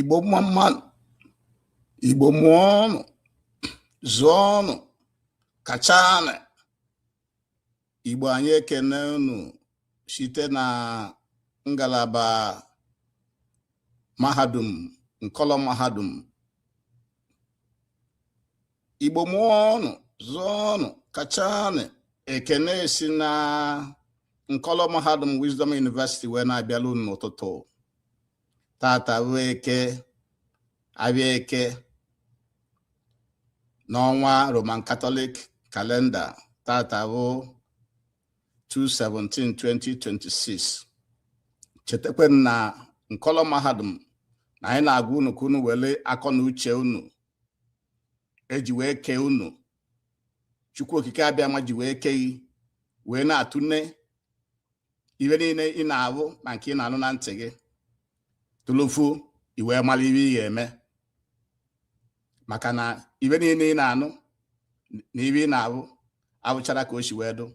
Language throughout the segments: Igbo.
igbo mma mma nụ igbo mụọnụ zụọnụ kachanụ igbo anyị ekene unu site na ngalaba mahadum nkọlọ mahadum igbo mụọnụ zụọnụ kachanụ ekene si na nkọlọ mahadum wisdom university wee na-abịala unu n'ụtụtụ tata bụ eke afịa eke n'ọnwa roman katọlik kalenda tata bụ 2/17/2026 chetakwa na nkọlọ mahadum na anyị na-agwa unu ka unu were akọ na uche unu e ji wee kee unu chukwu okike abịama ji wee kee gị wee na-atụne ife niile ị na-ahụ na nke ị na-anụ na ntị gị tụlụfu i wee mara ife ị ga-eme maka na ife niile ị na-anụ na ife ị na-ahụ abụchara ka o si wee dụ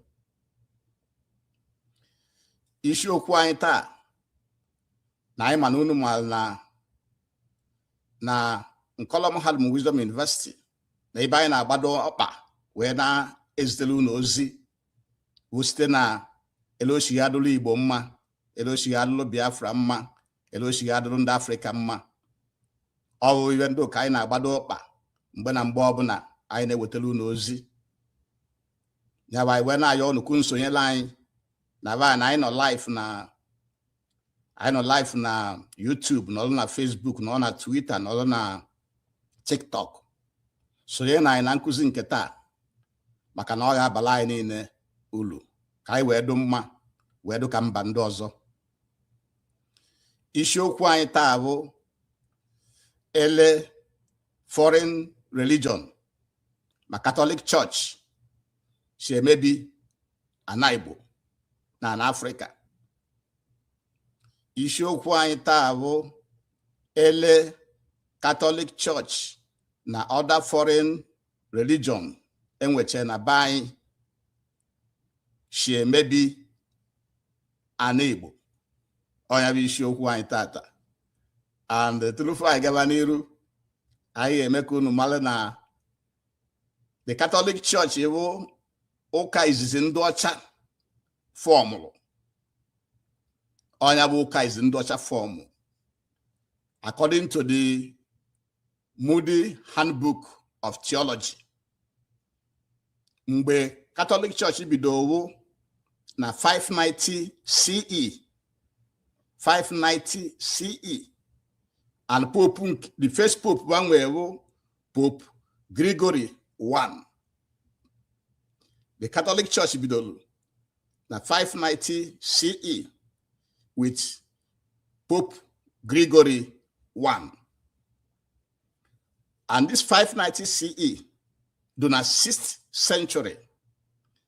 isiokwu anyị taa na anyị ma na unu maara na na nkọlọ mahadum Wisdom University na ebe anyị na-agbado ọkpa wee na-ezitere unu ozi bụ site na ele o si ga-adụrụ Igbo mma ele o si ga-adụrụ Biafra mma ele o si ga-adụrụ ndị Afrịka mma ọ bụ ife ndị ahụ ka anyị na-agbado ọkpa mgbe na mgbe ọbụla anyị na-ewetara unu ozi nya bụ anyị wee na-ayọ unu ka unu sonyere anyị na ebe niile anyị nọ live na anyị nọ live na YouTube nọrọ na Facebook nọrọ na Twitter nọrọ na TikTok sonye na anyị na nkụzi nke taa maka na ọ ga-abala anyị niile ulu ka anyị wee dụ mma wee dụ ka mba ndị ọzọ isiokwu anyị taa bụ ele foreign religion ma Catholic Church si emebi ana Igbo na ana Afrịka isiokwu anyị taa bụ ele Catholic Church na other foreign religion e nweche na be anyị si emebi ana Igbo ọ nya bụ isiokwu anyị tata and turufu anyị gaba n'iru anyị ga-eme ka unu mara na the Catholic Church bụ ụka izizi ndị ọcha fọmụrụ ọ nya bụ ụka izizi ndị ọcha fọmụ according to the Moody Handbook of Theology mgbe Catholic Church bido wụ na 590 CE 590 CE and pope the first pope ba nwee bụ Pope Gregory I the Catholic Church bidoro na 590 CE with Pope Gregory I and this 590 CE do na 6th century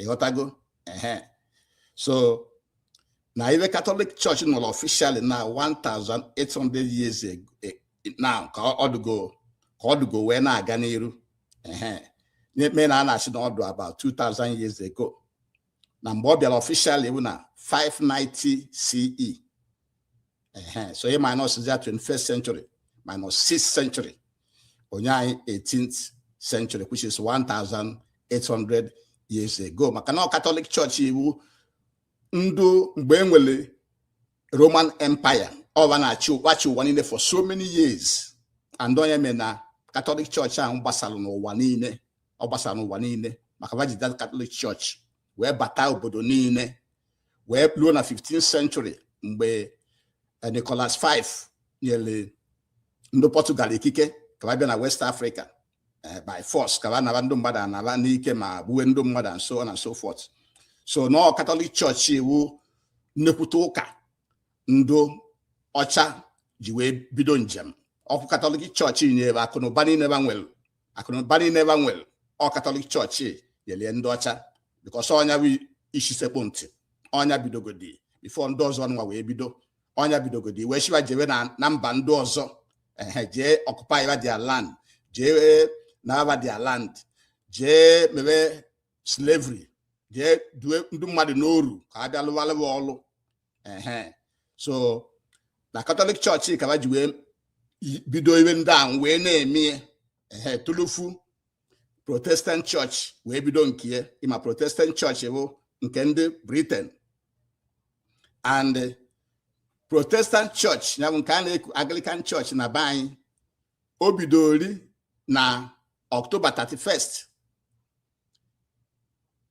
ị ghọtago ehe so na ive Catholic Church nọrọ officially na 1800 years ago eh, na ka ọ dụgo ka ọ dụgo wee na-aga n'iru ehe na-ekpe na a na-asị na ọ dụ about 2000 years ago na mgbe ọ bịara officially bụ na 590 CE so e minus ya 21st century minus 6th century o nye anyị 18th century which is 1800 years ago maka na Catholic Church wụ ndụ mgbe e nwere roman empire ọ ba na-achị ụwa niile for so many years and ọ nya mere na Catholic Church ahụ gbasara n'ụwa niile ọ gbasara n'ụwa niile maka va ji that Catholic Church wee bata obodo niile wee ruo na 15th century mgbe eh, Nicholas V nyere ndị Portugal ikike ka ba bịa na West Africa eh, by force ka ba naba ndị mmadụ ana ba n'ike ma gbuwe ndị mmadụ and so on and so forth so na ọ Catholic Church wụ nnekwute ụka ndị ọcha ji wee bido njem ọ wụ Catholic Church nyere ba akụnụba niile ba nwelu akụnụba niile ba nwelu ọ Catholic Church nyelie ndị ọcha because ọ nya bụ isi sekpụ ntị ọ nya bidogodi before ndị ọzọ nwa wee bido ọ nya bidogodi wee shiba jewe na mba ndị ọzọ ehe jee occupyba their land jee naba their land jee mebe slavery jee due ndị mmadụ n'oru ka a bịa lụwalụ wa ọlụ so na Catholic Church ka ba ji wee bido ive ndị ahụ wee na-eme ehe tulufu Protestant Church wee bido nke ya ị ma Protestant Church bụ nke ndị Britain and Protestant Church ya bụ nke a na-eku Anglican Church na be anyị o bidori na October 31st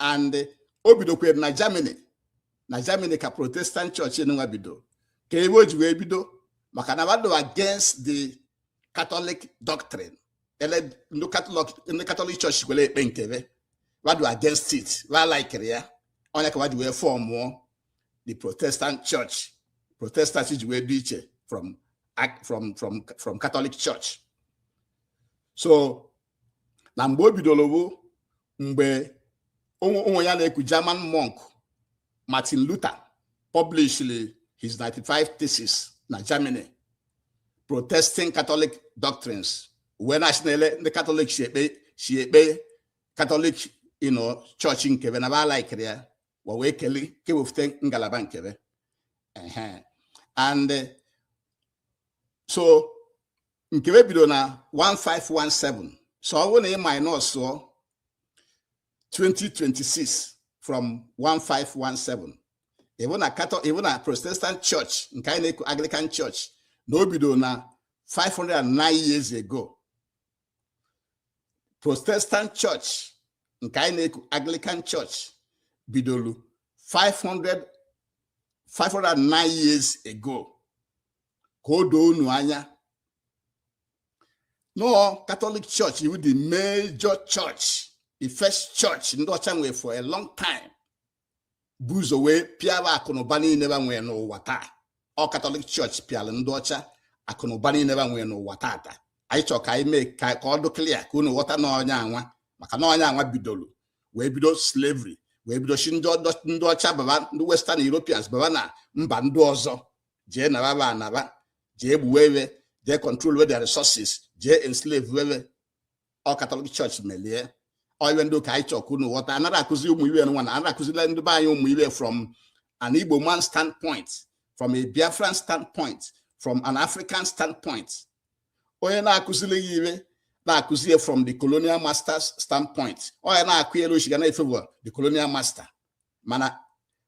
and o bidokwere na Germany na Germany ka protestant church nwa bido ka ebe o ji wee bido maka na wa dụ against the Catholic doctrine ele ndị Catholic ndị Catholic church kwere ekpe nke be wa dụ against it wa likerọ ya ọ nya ka wa ji wee fọmụọ the protestant church protestant ji wee dị iche from from from from Catholic church so na mgbe o bidoro bụ mgbe onye a na-eku German monk Martin Luther published his 95 theses na Germany protesting Catholic doctrines wee na-asị na ele ndị Catholic si ekpe Catholic ụnọ chọọchị nke be na ba alikera ya wa wee keli kewefute ngalaba nke be and eh, so nke be bido na 1517 so ọ bụrụ na ị minusuo 2026 from 1517 ị vụ na katọ ị vụ na protestant church nke anyị na-eku anglican church na o bido na 509 years ago protestant church nke anyị na-eku anglican church bidoro 509 years ago ka o doo unu anya na ọ katọlik church wụ the major church the first church ndị ọcha nwere for a long time bu ụzọ wee pịara akụnụba niile ba nwee n'ụwa taa ọ katọlik chọọchị pịara ndị ọcha akụnụba niile ba nwee n'ụwa tata anyị chọrọ ka anyị mee ka ọ dị klia ka unu ghọta na ọ nya nwa maka na ọ nya nwa bidoro wee bido slavery wee bido si ndị ọcha baba ndị western europeans baba na mba ndị ọzọ jee nara ba ana ba jee gbuwe we jee controlwe their resources jee enslavewe we ọ katọlik chọọchị melie ọ ive ndị ahụ ka anyị chọ ka unu ghọta anara akụzi ụmụ ive nwa na anara akụzila ndị be anyị ụmụ ive from an Igbo man standpoint from a Biafran standpoint from an African standpoint onye na-akụzili ya ive na-akụzi ya from the colonial master's standpoint onye na-akọ elu o si ga na-afavour the colonial master mana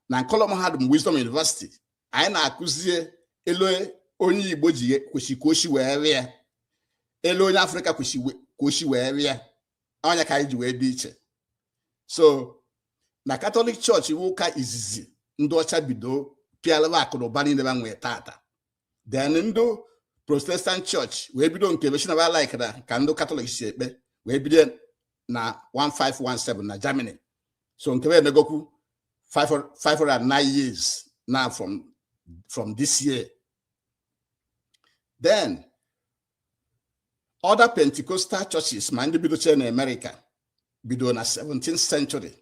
na nkọlọ mahadum Wisdom University anyị na-akụzie elu onye igbo ji kwesị ka o si wee vụ ya elu onye afrịka kwesị ka o si wee vụ ya ọ nya ka anyị ji wee dị iche so na katọlik chọọchị bụ ụka izizi ndị ọcha bido pịala ba akụ na ụba niile ba nwee tata then ndị protestant chọọchị wee bido nke be sị na ba likera ka ndị katọlik si ekpe wee bido na 1517 na germany so nke be emegokwu 509 years now from from this year then other pentecostal churches ma ndị bidochie na amerịka bido na 17th century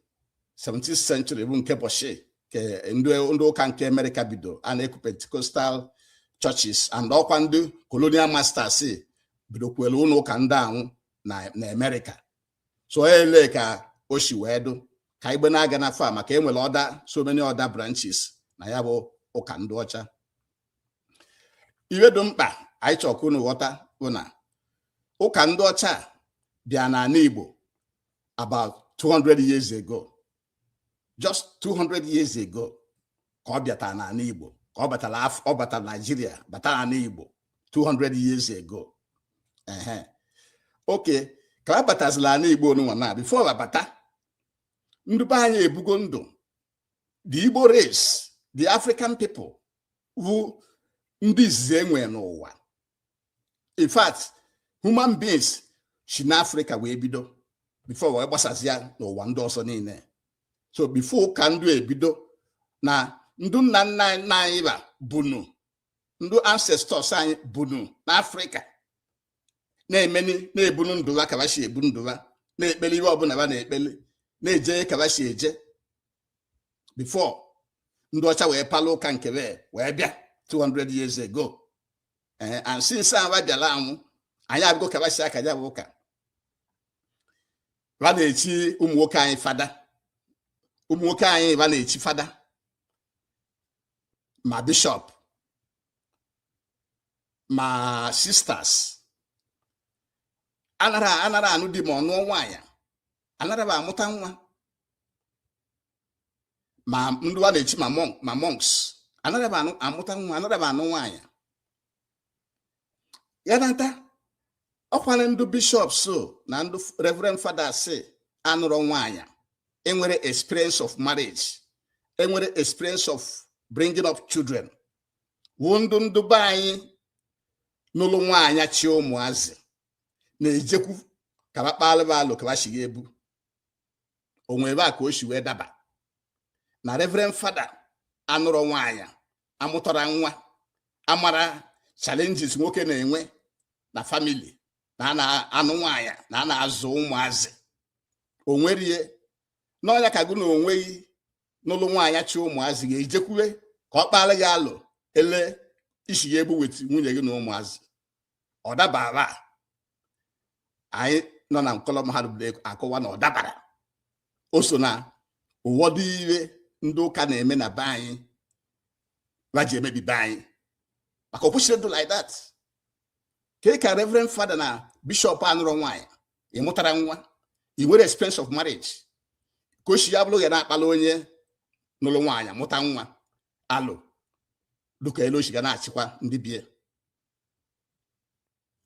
17th century bụ nke ụbọchị ke ndị ụka nke amerịka bido a na-eku pentecostal churches and ọkwa ndị colonial masters bidokwere ụlọ ụka ndị anwụ na amerịka so ele ka o si wee dụ ka igbe na-aga na fa maka enwere other so many other branches na ya bụ ụka ndị ọcha iwe dụ mkpa anyị chọ ka unu ghọta wụ na ụka ndị ọcha bịa n'ana Igbo about 200 years ago just 200 years ago ka ọ bịata n'ana Igbo ka ọ batara ọ batara Nigeria bata n'ana Igbo 200 years ago ehe okay ka a batazila ana Igbo nunwa na before ba abata ndị be anyị ebugo ndụ the Igbo race the African people wụ ndị izizi enwe n'ụwa in fact human beings si n'Africa wee bido before wee gbasazia n'ụwa ndị ọzọ niile so before ụka ndụ ebido na ndụ nna nna nna anyị ba bunu ndụ ancestors anyị bunu n'Africa na-emeni na-ebunu ndụ ba ka ba si ebu ndụ ba na-ekpeli ihe ọbụla ba na-ekpeli na-eje ka ba si eje before ndị ọcha wee palụ ụka nke wee bịa 200 years ago eh, and since a ba bịala anwụ anyị abụgo ka ba si aka ya bụ ụka ba na-echi ụmụ nwoke anyị fada ụmụ nwoke anyị ba na-echi fada ma bishọp ma sisters anara anara anụ di ma ọ nụọ nwaanyị anara ba amụta nwa ma ndị ba na-echi ma monks anara ba amụta nwa anara ba anụ nwaanyị ya nata ọkwara ndị bishops na ndị reverend fathers anụrọ nwaanyị enwere experience of marriage enwere experience of bringing up children wụ ndụ ndụ be anyị nụlụ nwaanyị chi ụmụazị na-ejekwu ka ba kpalụ ba alo ka ba si ga-ebu onwe ba ka o si wee daba na reverend father anụrọ nwaanyị amụtara nwa amara challenges nwoke na-enwe na family na a na-anụ nwaanyị na a na-azụ ụmụazị onwerie na ọ ya ka gụ na onwe gị nụlụ nwaanyị chi ụmụazị ga-ejekwuwe ka ọ kpalụ gị alo ele i si ga-ebu with nwunye gị na ụmụazị ọ dabara anyị nọ na nkọlọ mahadum akọwa na ọ dabara o so na ụwọdụ iwe ndị ụka na-eme na be anyị ba ji emebi be anyị maka o kwesịrị ịdụ like that kee ka reverend father na bishọp anụrọ nwaanyị ị mụtara nwa ị nwere experience of marriage ka o si ya bụrụ gị na-akpala onye nụrụ nwaanyị mụta nwa alụ dịka elu o shi ga na-achịkwa ndị bie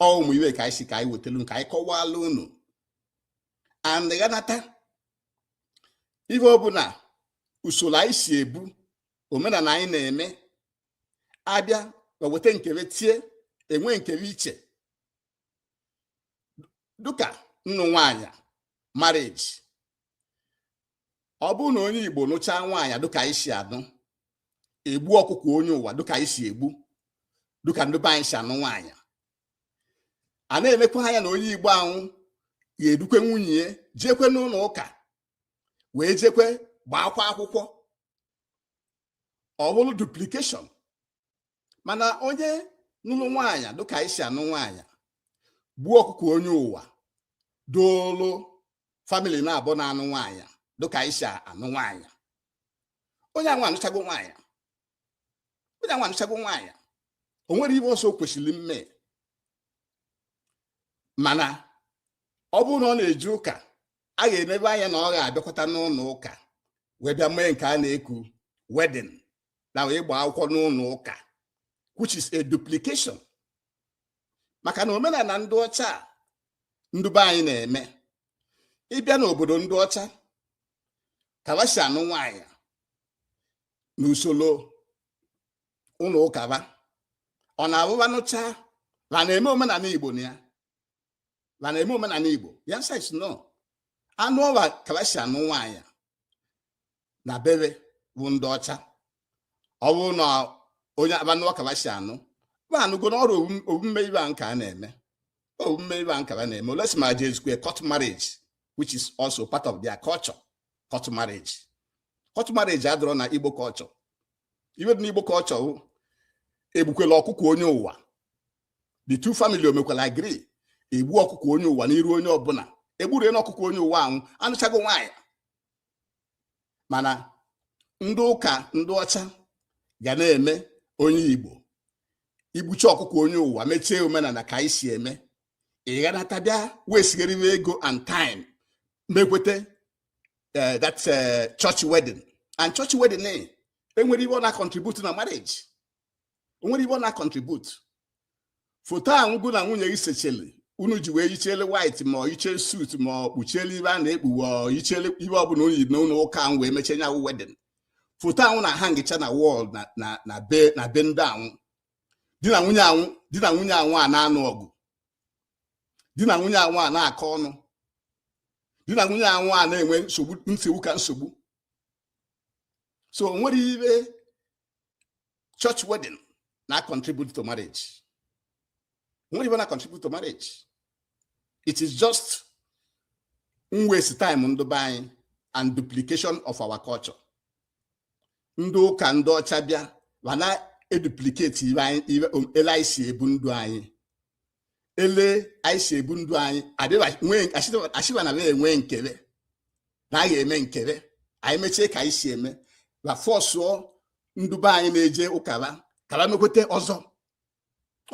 ọ ụmụ iwe ka anyị si ka anyị wetelu ka anyị kọwalụ unu and ghanata ife ọbụla usoro anyị si ebu omenala anyị na-eme abịa ma weta nke be tie enwe nke be iche dịka nnụ nwanyị marriage ọ bụrụ na onye Igbo nụchaa nwaanyị dịka anyị si anụ egbu ọkụkọ onye ụwa dịka anyị si egbu dịka ndị be anyị si anụ nwaanyị a na-enekwa anya na onye Igbo anwụ ga-edukwe nwunye ya jekwe n'ụlọ ụka wee jekwe gbaakwa akwụkwọ ọ bụrụ duplication mana onye nụlụ nwaanyị dịka anyị si anụ nwaanyị gbuo ọkụkọ onye ụwa doolu family naabọ na-anụ nwaanyị dịka anyị si anụ nwaanyị onye anwa anụchago nwaanyị onye anwa anụchago nwaanyị o nwerọ ibe ọzọ o kwesịrị mme mana ọ bụrụ na ọ na-eje ụka a ga-enebe anya na ọ ga-abịakwata n'ụlọ ụka wee bịa mee nke a na-eku wedding na ịgba akwụkwọ n'ụlọ ụka which is a duplication maka na omenala ndị ọcha ndị be anyị na-eme ị bịa n'obodo ndị ọcha ka ba shi anụ nwaanyị n'usoro ụlọ ụka ba ọ na-abụ ba nụchaa ha na-eme omenala igbo na ya ha na-eme omenala igbo the answer is no anụ ọwa ka ba shi anụ nwaanyị na be be bụ ndị ọcha ọ bụrụ na onye a ba nụọ ka ba si anụ ba anụgo na ọrụ omume ibe a nke a na-eme omume ibe a nke a na-eme unless ma jezukwe court marriage which is also part of their culture court marriage court marriage adịrọ na igbo culture iwe dị na igbo culture egbukwela ọkụkọ onye ụwa the two family omekwala agree egbu ọkụkọ onye ụwa n'iru onye ọbụla egburu na ọkụkọ onye ụwa anwụ anụchago nwaanyị mana ndị ụka ndị ọcha ga na-eme onye Igbo i gbuchie ọkụkọ onye ụwa mechie omenala ka anyị si eme ịghanata bịa wastegharịwa ego and time mekweta eh, that eh, church wedding and church wedding eh, enwerọ ibe ọ na-contribute na marriage o nwerọ ibe ọ na-contribute foto anwụ gị na nwunye gị sechele unu ji wee yichele white ma ọ yichee suit ma ọ kpuchiele ibe a na-ekpuwe ọ yichele ibe ọbụla unu yi n'ụlọ ụka ahụ wee mechie nya wụ wedding foto ahụ na-ahangịcha na wall na be na be ndị anwụ di na nwunye anwụ di na nwunye anwụ a na-anụ ọgụ di na nwunye anwụ a na-akọ ọnụ di na nwunye anwụ a na-enwe nsogbu nsogbu ka nsogbu so o nwerọ ibe church wedding na contribute to marriage nwerọ ibe na contribute to marriage it is just waste time ndị be anyị and duplication of our culture ndị ụka ndị ọcha bịa ba na-eduplicate ele anyị si ebu ndụ anyị ele anyị si ebu ndụ anyị achịba na enwe nkebe na anyị eme nkebe anyị mechie ka anyị si eme ba fọsụọ ndụ be anyị na-eje ụka ba ka ba mekwete ọzọ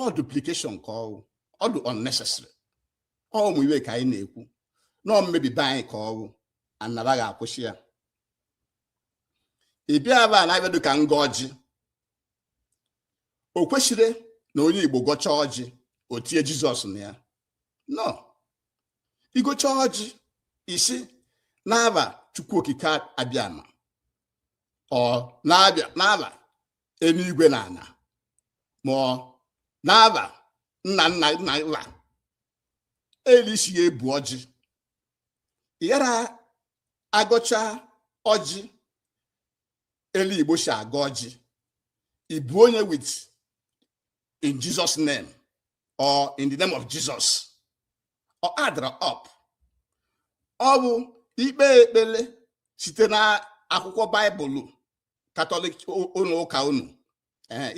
ọ duplication ka ọwụ ọ dị unnecessary ọ ụmụ iwe ka anyị na-ekwu na mmebi be anyị ka ọwụ ana ba ga-akwụsị ya ị bịa ebe a na-abịado ka ngọ ọjị o kwesịrọ na onye Igbo gọchaa ọjị o tie Jizọs na ya no ịgọcha ọjị ị sị n'aba Chukwu Okike abịama ọ na-abịa n'aba eluigwe na ana ma ọ n'aba nna nna nna nna ele e si ya ebu ọjị ị yara agọcha ọjị ele igbo si agọ ọjị ibu onye with in jesus name or in the name of jesus ọ addrọ up ọ bụ ikpe ekpele site na akwụkwọ baịbụl katọlik ụnọ ụka unu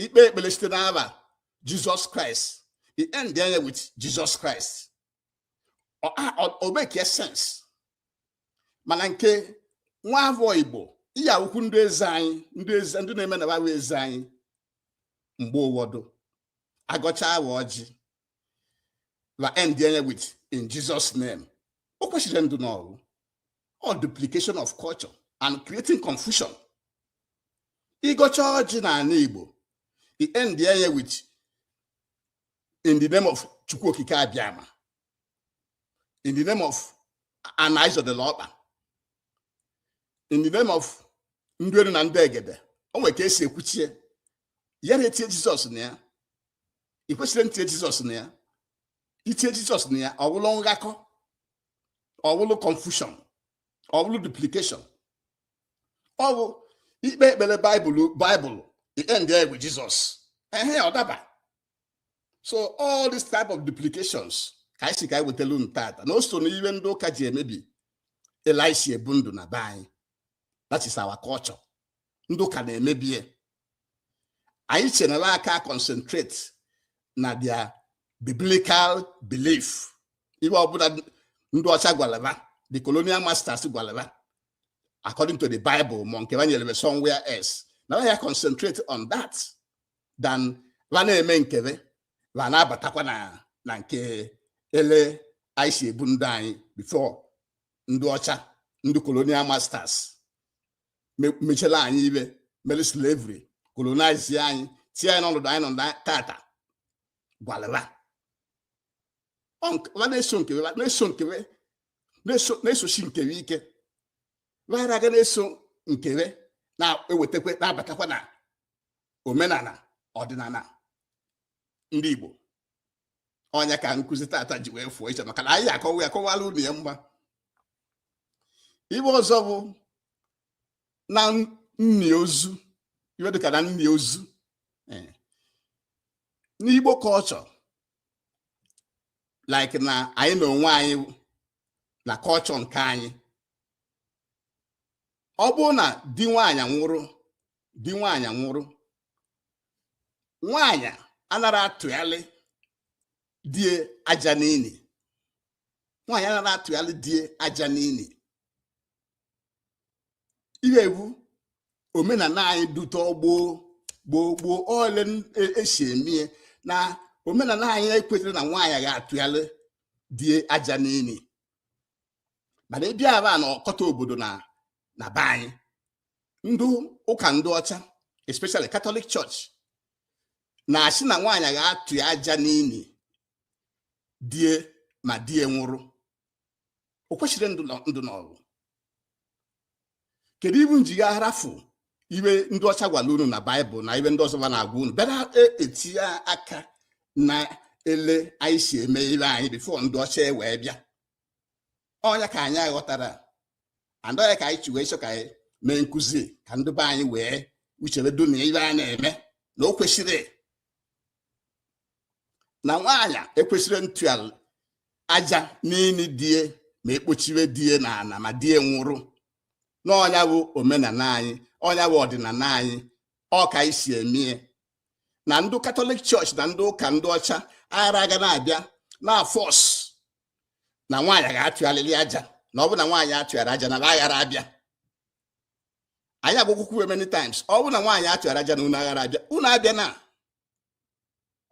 ikpe ekpele site n'aba jizọs kraịst end enye with jizọs kraịst o make sense mana nke nwa afọ igbo ị ya-awụkwu ndị eze anyị ndị eze ndị na-eme na ba wụ eze anyị mgbe ụwọdụ agọcha awa ọjị ba end enye with in Jesus name o kwesịrọ ndụ n'ọwụ all duplication of culture and creating confusion ịgọcha ọjị n'ana Igbo i end enye with in the name of chukwu okike abịama in the name of ana e zodelu ọkpa in the name of ndị elu na ndị egede o nwere ka esi ekwuchie ya na etie jizọs na ya ị kwesịrọ ntie jizọs na ya itie jizọs na ya ọwụlụ nghakọ ọwụlụ confusion ọwụlụ duplication ọ bụ ikpe ekpele baịbụl i ende with jizọs ehe ọ daba so all this type of duplications ka anyị si ka anyị wetelu unu tata na o so n'iwe ndị ụka ji emebi ele e si ebu ndụ na be anyị that is our culture ndị ụka na-emebie anyị chenere aka concentrate na their biblical belief ihe ọbụna ndị ọcha gwala ba the colonial masters gwala ba according to the bible ma nke ha nyere m somewhere else na ya concentrate on that than ha na-eme nkebe ha na-abatakwa na na nke ele anyị si ebu ndụ anyị before ndị ọcha ndị colonial masters me- mechela anyị ibe mere slavery colonize anyị tie anyị n'ọnọdụ anyị nọ na tata gwalaba Ọ nke- ha na-eso nkebe ha na-eso nkebe na-esosi nkebe ike ha ara aga na-eso nkebe na-ewetakwa na-abatakwa na omenala ọdịnala ndị Igbo ọnya ka nkụzi tata ji wee fụọ iche maka na anyị akọwa ya kọwara unu ya mgba ibe ọzọ bụ na nni ozu iwe dịka na nni ozu eh. n'igbo culture like na anyị na onwe anyị na culture nke anyị ọ bụrụ na di nwaanyị nwụrụ di nwaanyị nwụrụ nwaanyị anara atụgharị die aja n'ini nwaanyị anara atụgharị die aja n'ini ihe wụ omenala anyị dute ọgboo gboo gboo ọ ele e si emie na omenala anyị ekwetara na nwaanyị ga-atụgharị die aja n'ini mana ị bịa aba na ọkọta obodo na be anyị ndị ụka ndị ọcha especially Catholic Church na-asị na nwaanyị ga-atụ aja n'ini die ma die nwụrụ o kwesịrị ndụ n'ọrụ kedu iwe unu ji ga-arafụ iwe ndị ọcha gwara unu na Bible na iwe ndị ọzọ na-agwa unu bịara e, etinye aka na ele anyị si eme ibe anyị before ndị ọcha e wee bịa ọnya ka anyị aghọtara and ọ ya ka anyị ji wee chọọ ka anyị mee nkụzi ka ndị be anyị wee uchebe du na ibe a na-eme na o kwesịrị na nwaanyị ekwesịrị ntụ aja n'ini die ma ekpochiwe die na ana ma die nwụrụ na ọnya bụ omenala anyị ọnya bụ ọdịnala anyị ọ ka e si emie na ndị Catholic Church na ndị ụka ndị ọcha aghara aga na-abịa na-aforce na nwaanyị ga-atụgharịrị aja na ọ bụrụ na nwaanyị atụghara aja na ha aghara abịa anyị agwakwukwu many times ọ bụrụ na nwaanyị atụghara aja na unu aghara abịa unu abịana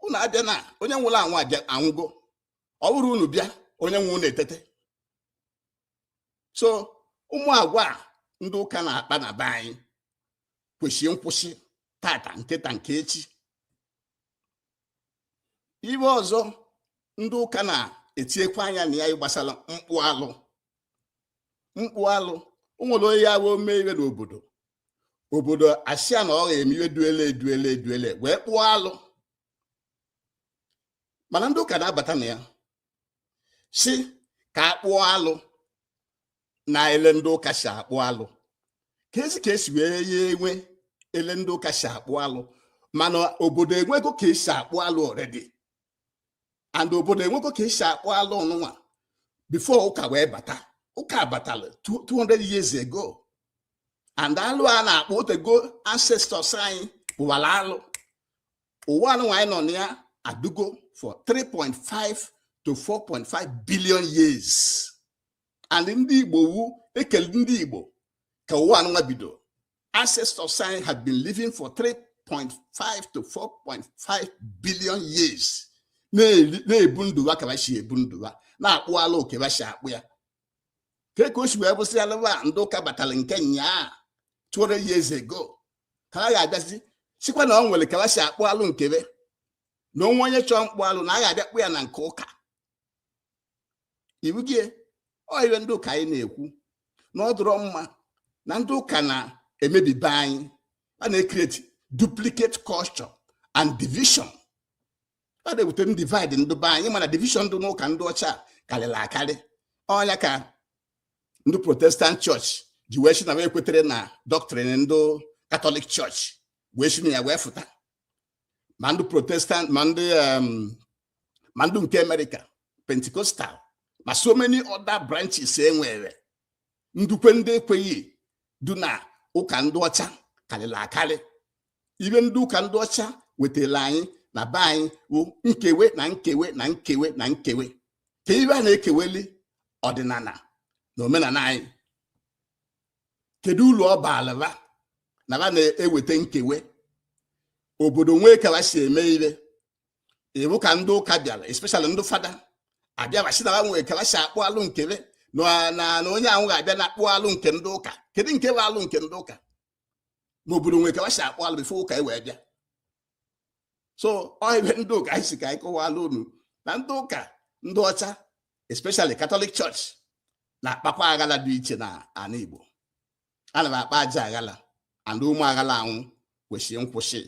unu abịana onye nwụrụ anwụ aba anwụgo ọ bụrụ unu bịa onye nwụrụnụ etete so ụmụ agwa ndị ụka na-akpa na be anyị kwesịrị nkwụsị tata nketa nke echi ibe ọzọ ndị ụka na-etinyekwa anya na ya gbasara mkpụ alụ mkpụ alụ nwere onye ya bụ o mee ibe n'obodo obodo asị ya na ọ ga-eme ibe dụ ele dụ ele dụ ele wee kpụọ alụ mana ndị ụka na-abata na ya sị ka a kpụọ alụ na ele ndị ụka si akpụ alụ ka ezi ka esi wee ya enwe ele ndị ụka si akpụ alụ mana obodo enwego ka esi akpụ alụ already and obodo enwego ka esi akpụ alụ ọnụnwa before ụka wee bata ụka batara 200 years ago and alụ a na-akpụ otego ancestors anyị kpụwara alụ ụwa anụnwa anyị nọ na ya adụgo for 3.5 to 4.5 billion years and ndị Igbo wu e kelu ndị Igbo ka ụwa anụnwa bido ancestors anyị had been living for 3.5 to 4.5 billion years na-ebu ndụ ha ka ba si ebu ndụ ha na-akpụ alụ ka ba si akpụ ya kee ka o si wee bụsị alụwa ndị ụka batara nke nyaa 200 years ago ka ba ga-abịazi sịkwa na o nwere ka ba si akpụ alụ nke be na o nwee onye chọọ mkpụ alụ na a ga-abịa kpụ ya na nke ụka ibugie ọ ibe ndị ahụ ka anyị na-ekwu na ọ dụrọ mma na ndị ụka na-emebi be anyị a na-ecreate duplicate culture and division a na-ewute m divide ndị be anyị mana division dị n'ụka ndị ọcha karịrị akarị ọ nya ka ndị protestant church ji wee sị na ba ekweterọ na doctrine ndị Catholic church wee si na ya wee fụta ma ndị protestant ma ndị um, ma ndị nke America Pentecostal ma so many other branches e nwere ndị kwe ndị ekweghị dụ na ụka ndị ọcha karịrị akarị ibe ndị ụka ndị ọcha wetara anyị na be anyị bụ nkewe na nkewe na nkewe na nkewe kee ibe a na-ekeweli ọdịnala na omenala anyị kedu ulu ọ baalị ba na ba na-eweta nkewe obodo nwee ka ba si eme ibe ịbụ ka ndị ụka bịara especially ndị fada abịa ba sị na ba nwee ka ba si akpụ alụ nke be na onye ahụ ga-abịa na akpụ alụ nke ndị ụka kedu nke bụ alụ nke ndị ụka ma obodo nwee ka ba si akpụ alụ before ụka e wee bịa so ọ ibe ndị ahụ ka anyị sị ka anyị kọwalụ unu na ndị ụka ndị ọcha especially Catholic Church na-akpakwa aghala dị iche na ana Igbo ana ba akpa ajọ aghala and ụmụ aghala anwụ kwesịrị nkwụsị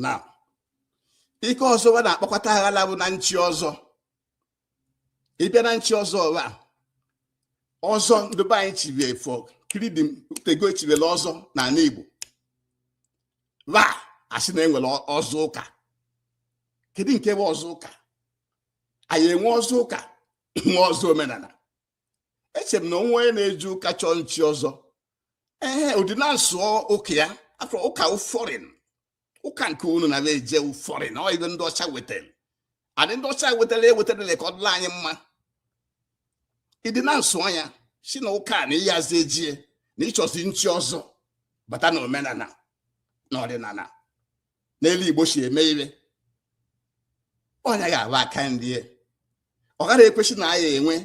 na ike ọzọ ba na-akpakọta aghala bụ na nchi ọzọ ịbịa na nchi ọzọ nwa ọzọ ndị be anyị chibe efọ kiridim o tego e chibelu ọzọ n'ala Igbo wa asị na enwere ọzọ ụka kedu nke bụ ọzọ ụka a ya-enwe ọzọ ụka nwee ọzọ omenala eche m na o nwee onye na-eje ụka chọọ nchi ọzọ ee ọ dị na nsọ ụka ya afọ ụka bụ foreign ụka nke unu na-eje bụ foreign ọ ibe ndị ọcha wetara and ndị ọcha wetara eweterọ ya ka ọ dịlị anyị mma ị dị na nsọ anya si na ụka na ịyazi ejie na ịchọzi nchi ọzọ bata na omenala na ọdịnala na etu Igbo si eme ire ọ nya ga-abụ aka nri ọ gaghị ekwesị na a ya-enwe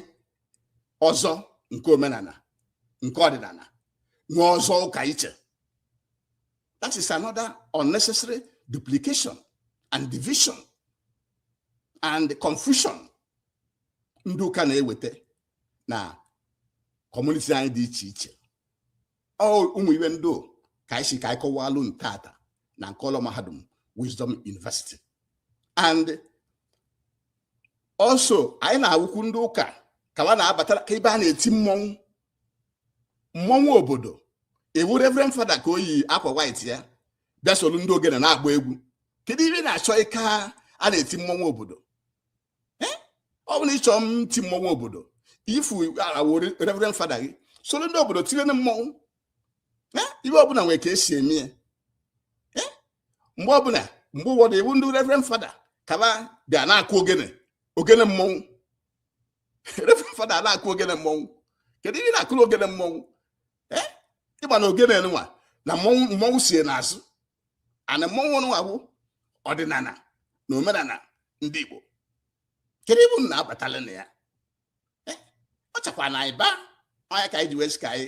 ọzọ nke omenala nke ọdịnala nwee ọzọ ụka iche That is another unnecessary duplication and division and confusion ndị ụka na-eweta na community anyị dị iche iche ụmụ ibe ndị a ka anyị sị ka anyị kọwalụ unu tata na nke ụlọ mahadum Wisdom University and also anyị na-awụkwu ndị ụka ka wa na-abata ka ebe a na-eti mmọnwụ mmọnwụ obodo ị wụ reverend fada ka o yi akwa white ya bịa solu ndị ogene na-agba egwu kedu ihe na-achọ ịka a na-eti mmọnwụ obodo eh? ọ bụ na ị chọọ iti mmọnwụ obodo yifụ awe reverend fada gị solu ndị obodo tire na mmọnwụ eh? ihe ọbụla nwere ka esi eme ya eh? mgbe ọbụla mgbe ụfọdụ ị wụ ndị reverend fada ka wa bịa na-akụ ogene ogene mmọnwụ fada na-akụ ogene mmọnwụ kedu ihe ị na-akụrụ ogene mmọnwụ eh? ị ma na ogene nwa na mmọnwụ mmọnwụ so ya n'azụ and mmọnwụ nwa bụ ọdịnala na omenala ndị Igbo kedu ibe unu na-abatalụ na ya eh? ọ chakwa na anyị baa ọ nya ka anyị ji wee sị ka anyị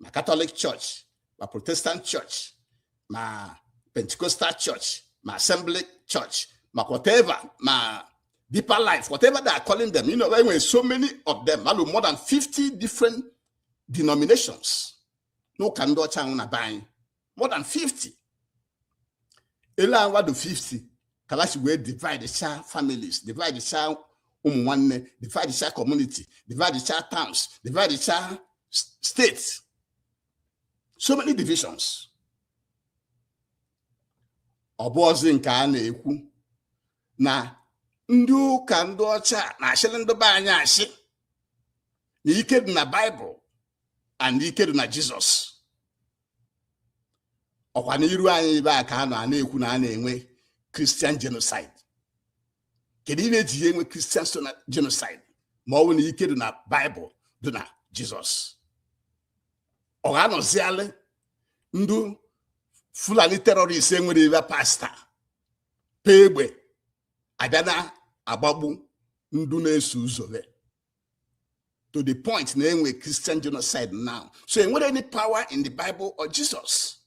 ma Catholic church ma protestant church ma pentecostal church ma assembly church ma whatever ma deeper life whatever they are calling them you know e nwe so many of them alụ more than 50 different denominations n'ụka ndị ọcha nwe na be anyị more than 50 ele anya wa dị 50 kalịa si wee divide cha families divide cha ụmụ nwanne divide cha community divide cha towns divide cha states so many divisions ọ bụzi nke a na-ekwu na ndị ụka ndị ọcha na-ashịrị ndị be anyị ashị na ike dị na Bible and ike dị na Jizọs ọkwa n'iru anyị ibe a ka a nọ a na-ekwu na a na-enwe Christian genocide kedu ihe e ji enwe Christian genocide ma ọ bụ na ike dị na Bible dị na Jesus ọ ga-anọzialị ndụ fulani terrorist enwere ibe pasta pee egbe abịa na-agbagbu ndụ na-eso ụzọ to the point na enwe Christian genocide now so enwere any power in the Bible or Jesus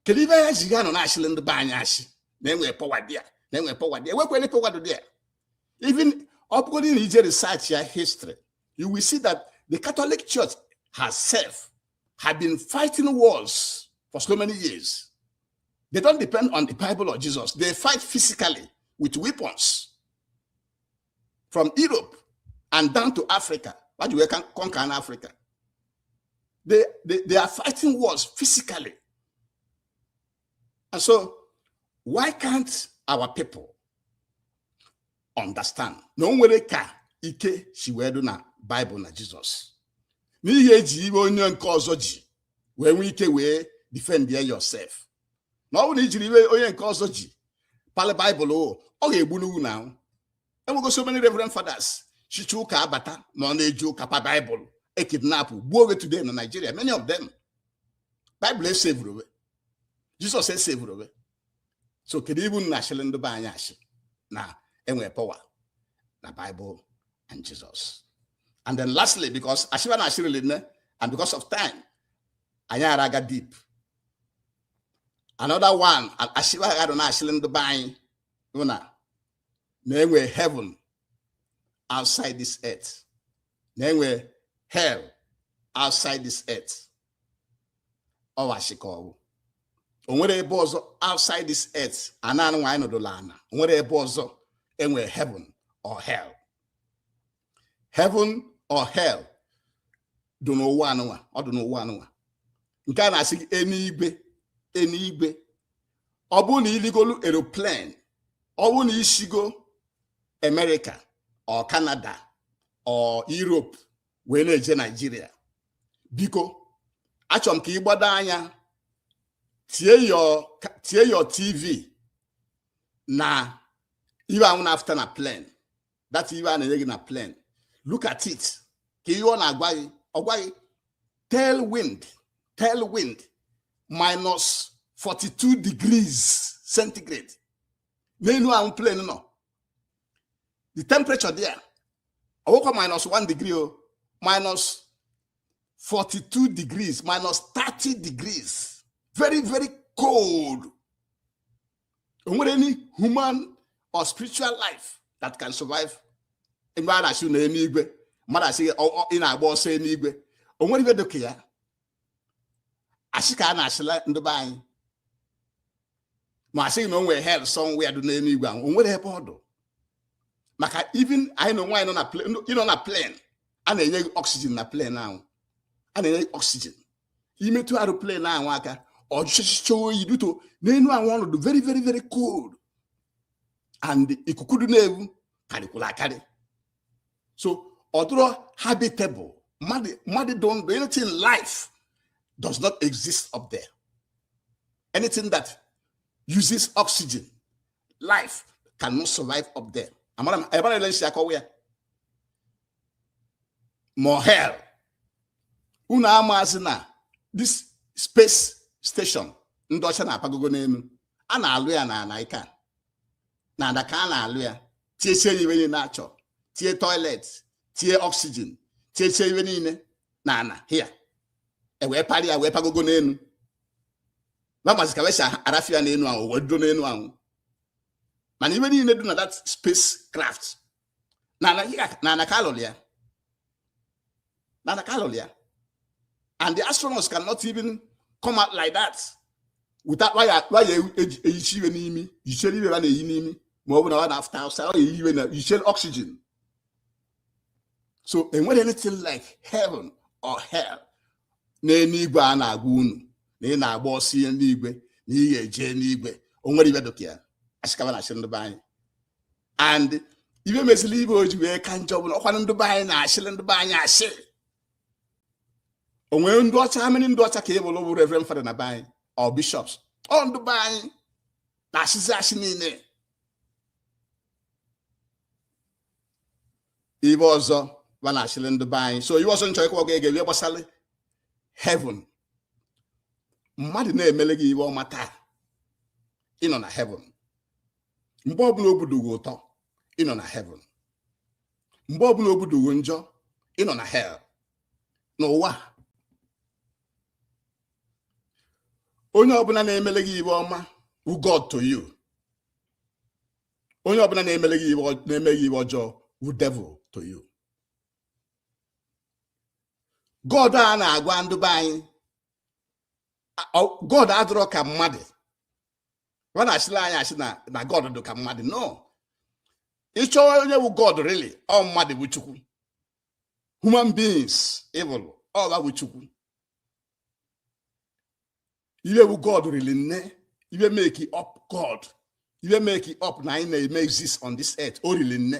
kedu ihe ya ji ga nọ na-asịlị ndị be anyị asị na enwere power dị ya na enwere power dị ya enwekwa any power dị ya even ọ bụgodị na ị jee research ya history you will see that the Catholic Church herself had been fighting wars for so many years They don't depend on the Bible or Jesus. They fight physically with weapons. from Europe and down to Africa wa ji wee conquer in Africa they, they, they are fighting wars physically and so why can't our people understand na o nwere ka ike si wee dị na Bible na Jesus n'ihi eji ihe onye nke ọzọ ji wee nwee ike wee defend yourself na ọ bụrụ na i jiri ihe onye nke ọzọ ji palị Bible ọ ga-egbu n'ugwu na ahụ enwego so many reverend fathers chicha ụka abata ma ọ na-eje ụka pa Bible e kidnap gbuo we today na Nigeria many of them Bible esevurọ we Jesus esevurọ we so kedu ihe unu na-asịrị ndị be anyị asị na enwe power na Bible and Jesus and then lastly because asị ba na-asị rịlị nne and because of time anyị ara aga deep another one asị ba gadụ na-asịrị ndị be anyị bụ na na enwere heaven outside this earth na enwere hell outside this earth ọ wụ asị ka ọ wụ o nwere ebe ọzọ outside this earth ana anụnwa anyị nọdụla ana o nwere ebe ọzọ enwere heaven or hell heaven or hell dị n'ụwa anụnwa ọ dị n'ụwa anụnwa nke a na-asị gị enuigwe enuigwe ọ bụrụ na i ligolu aeroplane ọ bụrụ na i sigo America or Canada or Europe wee na-eje Nigeria biko achọrọ m ka ị gbado anya tie your tv na ihe anwụ na-afụta na plane that iwe a na-enye gị na plane look at it ka ihe ọ na-agwa gị ọ gwa gị tail wind tail wind minus 42 degrees centigrade n'enu ahụ plane nọ the temperature there awụkwa minus 1 degree o minus 42 degrees minus 30 degrees very very cold o nwere any human or spiritual life that can survive mgbe a na-asị na enuigwe mmadụ asị ị na-agba ọsọ enuigwe o nwere iwe dịka ya asị ka a na-asịla ndị be anyị ma asịghị na o nwere hell somewhere dị n'enuigwe ahụ o nwere ebe ọ dụ maka even anyịnwa nọ na plane a na-enye gị oxygen na plane ahụ a na-enye gị oxygen i metụ aeroplane ahụ aka ọ jụchịcha oyi due to n'enu ahụ ọ nọ dụ very very very cold and ikuku dị n'ebe ahụ karịkwụrụ akarị so ọ dụrọ habitable mmadụ mmadụ dị ndụ anything life does not exist up there anything that uses oxygen life cannot survive up there amara m ebe a na-ele nsi akọwa ya ma ọ hell unu amazi na this space station ndị ọcha na-apagogo n'enu a na-alụ ya n'ana ka n'ana ka a na-alụ ya tiechie ya iwe niile a chọ tie toilet tie oxygen tiechie iwe niile n'ana here e wee parị ya wee pagogo n'enu ba mazi ka ba si arafia n'enu ahụ wee dudo n'enu ahụ mana iwe niile dị na that space craft n'ana ka a lụrụ ya n'ana ka a lụrụ ya and the astronauts cannot even come out like that without waya waya eyichi iwe n'imi yichere iwe ha na-eyi n'imi ma ọ bụ na ọ na-afụta outside ọ na-eyi iwe na yichere oxygen so e nwere anything like heaven or hell n'enuigwe a na-agwa unu na ị na-agba ọsọ enuigwe na ị ga-eje enuigwe o nwere iwe dịka ya asị ka ba na-asị ndị be anyị and iwe mezirị iwe o ji wee ka njọ bụ na ọkwanụ ndị be anyị na-asịrị ndị be anyị asị o nwere ndị ọcha how many ndị ọcha ka ị fụrụ bụ reverend father na be anyị or bishops ọ ndị be anyị na-asịzi asị niile iwe ọzọ ba na-asịrị ndị be anyị so iwe ọzọ m chọ ịkọwara gị ihe gbasara heaven mmadụ na-emele gị iwe ọma taa ị nọ na heaven mgbe ọbụla obi dụ gị ụtọ ị nọ na heaven mgbe ọbụla obi dụ gị njọ ị nọ na hell n'ụwa onye ọbụla na-emele gị ive ọma wụ God to you onye ọbụla na-eme gị ive ọjọọ wụ devil to you God a na-agwa ndụ be anyị God adụrọ ka mmadụ va na-asịlị anyị asị na god dị ka mmadụ no ị chọọ onye wụ god really ọ mmadụ wụ chukwu human beings ị vụlụ ọ va wụ chukwu ive wụ god rili nne ive make up god ive make up na anyị na-eme exist on this earth o rili nne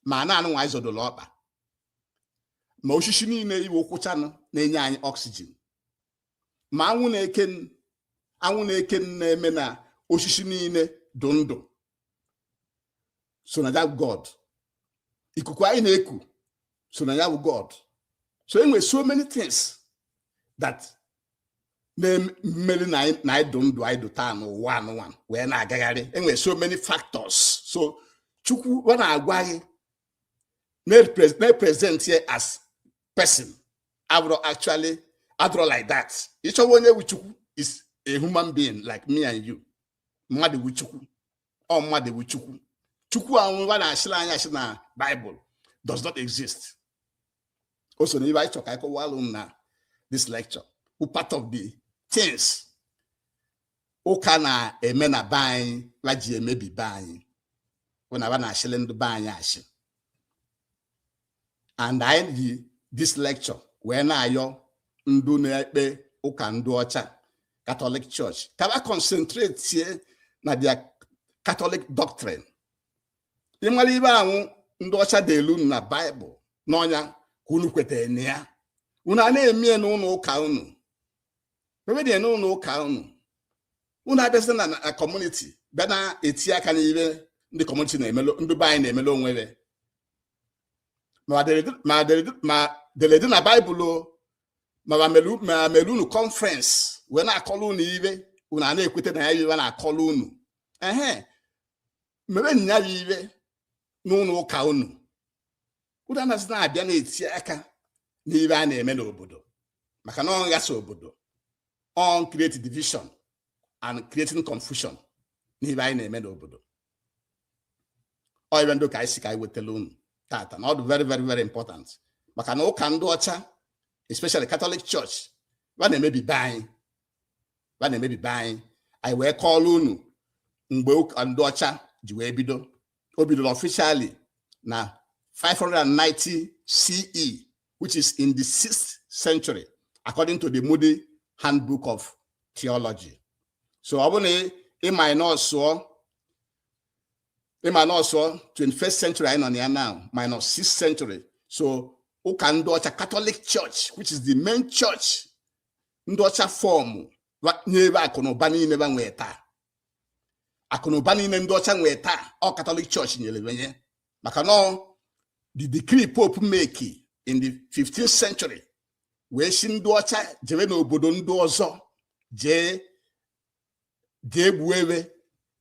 ma ana anụnwa anyị zọdolu ọkpa ma osisi niile ị vụ kwụchanụ na-enye anyị oxygen ma anwụ na-eke anwụ na-eke na-eme na osisi niile dụ ndụ so na ya wụ god ikuku anyị na-eku so na ya wụ god so e nwe so many things that melu na anyị dụ ndụ anyị dụ taa n'ụwa anụnwa wee na-agagharị e nwe so many factors so chukwu va na-agwa gị na-present ya as person abụrọ actually adụrọ like that ị chọwa onye wụ chukwu is a human being like me and you mmadụ wụ chukwu ọ mmadụ wụ chukwu chukwu a va na-asịlị anyị asị na Bible does not exist o so na ive anyị chọrọ ka anyị kọwaalụ unu na this lecture wụ part of the things ụka na-eme na be anyị va ji emebi be anyị wụ na va na-asịlị ndị be anyị asị and anyị ji this lecture wee na-ayọ ndụ na-ekpe ụka ndụ ọcha Catholic Church ka va concentratie na their Catholic doctrine ị mara ive avụ ndị ọcha deelu unu na Bible na ọ nya ka unu kwetara na ya unu a na-emie n'ụlọ ụka unu ewedie n'ụlọ ụka unu unu abịazi na community bịa na-eti aka n'ive ndị community na-emelu ndị be anyị na-emelu onwe va ma ma va deredi na Bible o, ma va mere unu conference wee na-akọrọ unu ive unu a na-ekweta na ya bụ ive a na-akọrọ unu ehe mewe nya bụ ive n'ụlọ ụka unu unu anaghịzi na-abịa na-eti aka n'ive a na-eme n'obodo maka na ọ na-aghasa obodo ọ na-create division and creating confusion n'ive anyị na-eme n'obodo ọ ibe ndị ka anyị sị ka anyị wetara unu tata na ọ dị very very very important maka na ụka ndị ọcha especially Catholic Church ba na-emebi be anyị ba na-emebi be anyị anyị wee kọọrọ unu mgbe ụka ndị ọcha ji wee bido o bidoro officially na 590 CE which is in the 6th century according to the Moody Handbook of Theology so ọ bụ na ị minusuọ ị minusuọ 21st century anyị nọ na ya now minus 6th century so ụka ndị ọcha Catholic Church which is the main church ndị ọcha fọọmụ nye ba akụ na ụba niile ba nwee taa akụ na ụba niile ndị ọcha nwee taa ọ Catholic Church nyere ba nya maka na the decree Pope make in the 15th century wee sị ndị ọcha jebe n'obodo ndị ọzọ jee jee gbuo be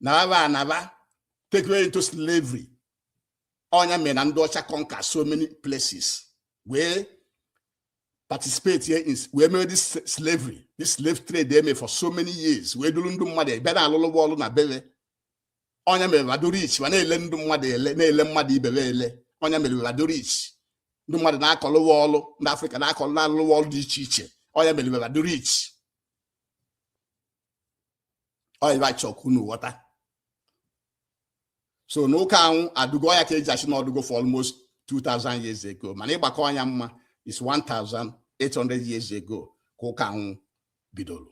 nara ana ba take away into slavery ọ nya mere na ndị ọcha conquer so many places wee participate here in wee mere this slavery this slave trade eme for so many years wee duru ndị mmadụ ba na-alụlụ ba ọrụ na be ba ọ nya mere ba dụ rich ma na-ele ndị mmadụ ele na-ele mmadụ ibe ba ele ọ nya mere ba dụ rich ndị mmadụ na-akọlụ ba ọlụ ndị afrịka na-akọlụ na-alụ ba ọlụ dị iche iche ọ nya mere ba dụ rich ọ nya bụ a chọ ka unu ghọta so na ụka anwụ adụgo ọ nya ka e ji asị na ọ dụgo for almost 2000 years ago mana ị gbakọọ nya mma is 1800 years ago ka ụka anwụ bidoro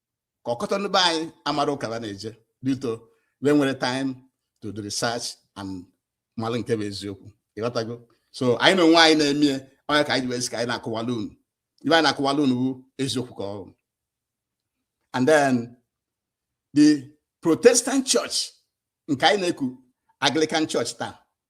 ka ọkọtọ ndị be anyị amarọ ụka ba na-eje due to ba enwerọ time to do research and malụ nke bụ eziokwu ị ghọtago so anyị na onwe anyị na-emie ọ nya ka anyị ji sị ka anyị na-akọwala unu ibe anyị na-akọwala unu bụ eziokwu ka ọ dụ and then the protestant church nke anyị na-eku Anglican Church taa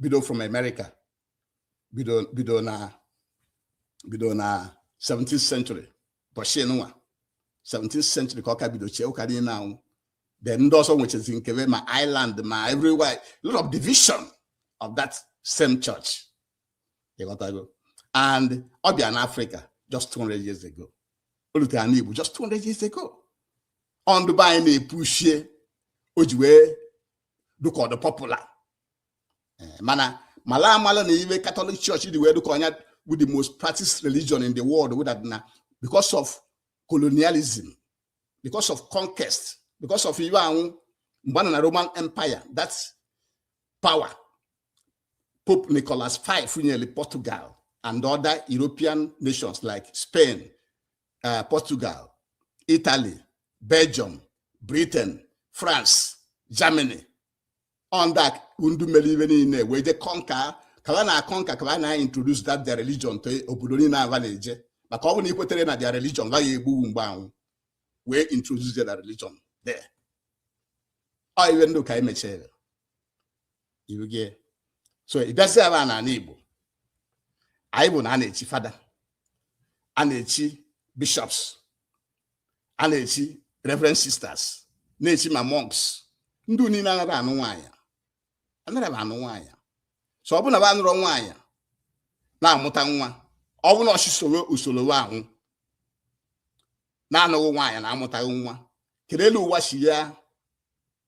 bido from America bido bido na bido na 17th century ụbọchị nwa 17th century ka ọ ka bido chie ụka dị na anwụ then ndị ọzọ nwechazie nke ba ma Ireland ma everywhere a lot of division of that same church ị ghọtago and ọ bịa na Africa just 200 years ago o rutere na Igbo just 200 years ago ọ ndị be anyị na-epush ie o ji wee dụ ka ọ dụ popular eh, mana mala amala na ibe Catholic Church ji wee dụ ka ọ nya bụ the most practiced religion in the world bụ that na because of colonialism because of conquest because of ibe anwụ mgbe na roman empire that power pope nicholas v nyere portugal and other european nations like spain uh, portugal italy belgium britain France, Germany, on that ndị mere ibe niile wee je conquer ka ba na-aconquer ka ba na introduce that their religion to obodo niile ba na-eje maka ọ bụ na i kweterọ na their religion va ya egbu wụ mgbe anwụ wee introduce their religion there ọ iwe ndị ụka mechere you get so ị bịazị ebe a n'ala Igbo anyị bụ na a na-echi father a na-echi bishops a na-echi reverend sisters na-echi ma monks ndị niile anarọ anụ nwaanyị anarọ anụ nwaanyị so ọ bụ na ba anụrọ nwaanyị na-amụta nwa ọ bụ na a sị soro usoro anwụ na-anụghị nwaanyị na-amụtaghị nwa kedu elu ụwa si ya